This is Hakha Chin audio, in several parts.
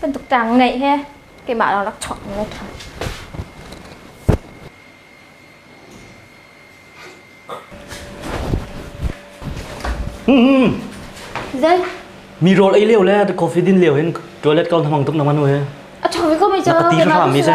Bantuk tang ngeih he keimah lo rak chuak ne tha. Hmm. Zai. Mi rol ei leo le ta coffee din leo hin toilet kau namang tum namanu he. A chong ko mi cha. Na pati hram mi se.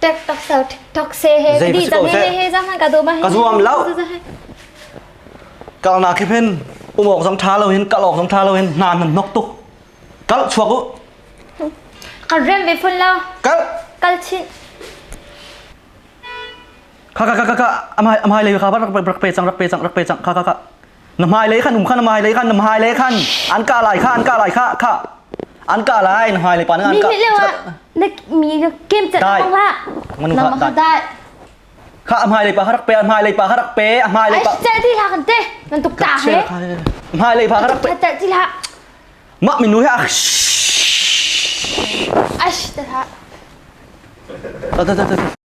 Tek tak sau thok se he di zan he he za man ka do ma he ka zuam lo kal na khi phen um ok zong tha lo hin kal ok zong tha lo hin nan nan nok tu kal chuak u kan rem ve phun lo kal kal chin kha kha kha kha amai amai le kha rak rak pe chang rak pe chang rak pe chang kha kha kha na hmailei khan um khan na hmailei khan na hmailei khan an ka lai kha an ka lai kha kha an ka lai na hmailei pa na an ka na mi na kem chat ang la na ma kha dai kha hmailei pa harak pe hmailei pa harak pe hmailei pa ai ti la kan te nan tuk ta he hmailei pa harak pe ta ti la ma minu he ash ta ta ta ta ta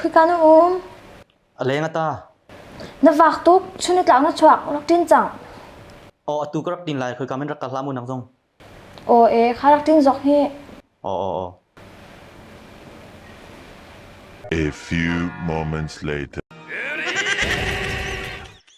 Khika na um? A leng a ta. Na vak tuk. Chun na tlang na chuak. Rak tin cang. Aw atu ka rak tin lai. Khika men rak kal hlam nang zong. Aw e, kha rak tin zok hi. Aw aw aw. A few moments later.